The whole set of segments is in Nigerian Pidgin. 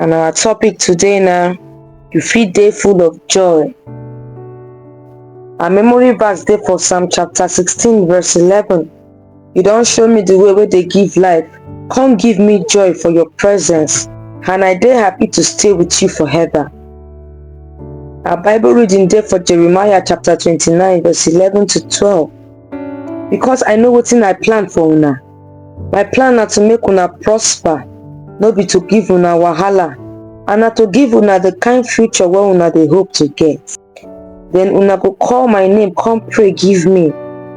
And our topic today now, you feel day full of joy. Our memory verse day for Psalm chapter 16 verse 11. You don't show me the way where they give life. Come give me joy for your presence. And I day happy to stay with you forever. Our Bible reading day for Jeremiah chapter 29 verse 11 to 12. Because I know what's in I plan for now. My plan na to make una prosper, no be to give una wahala, and na to give una the kind future wey una dey hope to get. Then una go call my name come pray give me,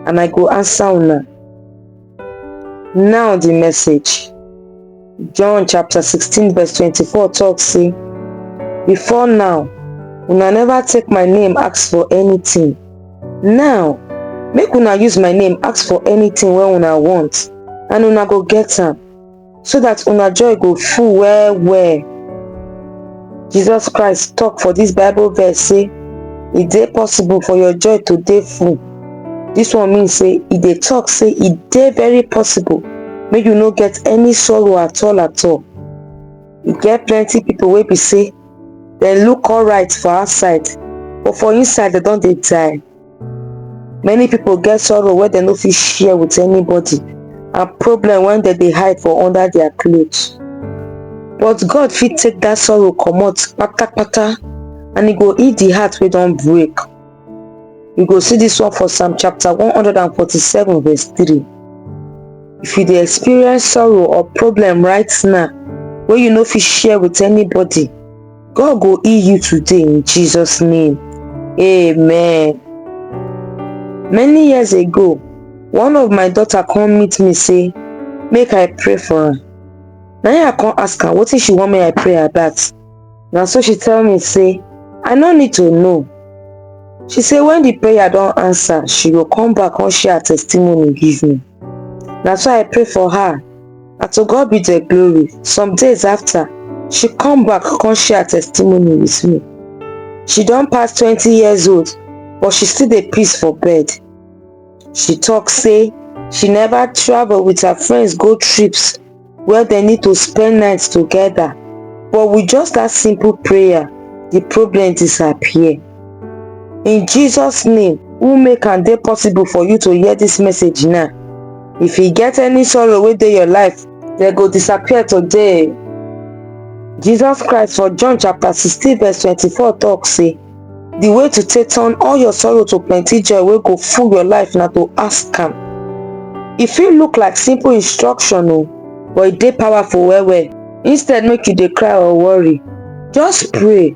and I go answer una. Now the message. John chapter 16 verse 24 talk say, Before now, una never take my name ask for anything. Now, make una use my name ask for anything wey una want, and una go get am, so that una joy go full well well. Jesus Christ talk for this Bible verse say, e dey possible for your joy to dey full. This one mean say e dey talk say e dey very possible make you no get any sorrow at all at all. E get plenty people wey be say dem look alright for outside but for inside dem don dey die. many people get sorrow wey dem no fit share with anybody and problem when dem dey hide for under their clothes but god fit take that sorrow comot patapata and e go heal the heart wey don break you go see this one for psalm chapter 147 verse 3 if you dey experience sorrow or problem right now wey you no fit share with anybody God go heal you today in Jesus' name. Amen. Many years ago, one of my daughter come meet me say, make I pray for am. Na im I come ask am wetin she want make I pray about. Na so she tell me say, I no need to know. She say when the prayer don answer, she go come back come share her testimony give me. Na so I pray for her Na to God be the glory. Some days after, she come back come share her testimony with me. She don pass 20 years old, but she still dey piss for bed. She talk say she never travel with her friends go trips where they need to spend nights together, but with just that simple prayer, the problem disappear. in jesus name who make am dey possible for you to hear this message now if e get any sorrow wey dey your life dem go disappear today jesus christ for john chapter 16 verse 24 talk say the way to take turn all your sorrow to plenty joy wey go full your life na to ask am e fit look like simple instruction o but e dey powerful well well instead make you dey cry or worry just pray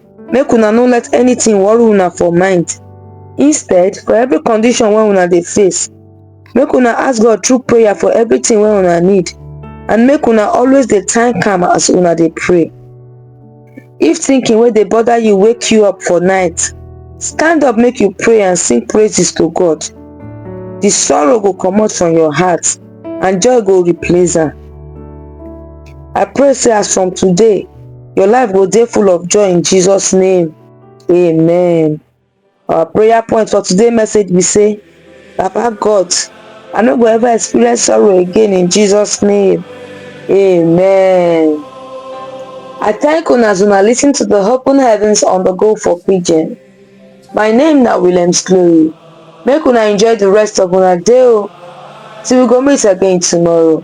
make una no let anything worry una for mind instead for every condition wey una dey face make una ask god through prayer for everything wey una need and make una always dey thank am as una dey pray if thinking wey dey bother you wake you up for night stand up make you pray and sing praises to god the sorrow go comot from your heart and joy go replace am i pray say as from today your life go dey full of joy in jesus name amen our prayer point for today message be say papa god i no go ever experience sorrow again in jesus name amen i thank una as una listen to the open heavens on the go for pidgin my name na williams glory make una enjoy the rest of una day o till we go meet again tomorrow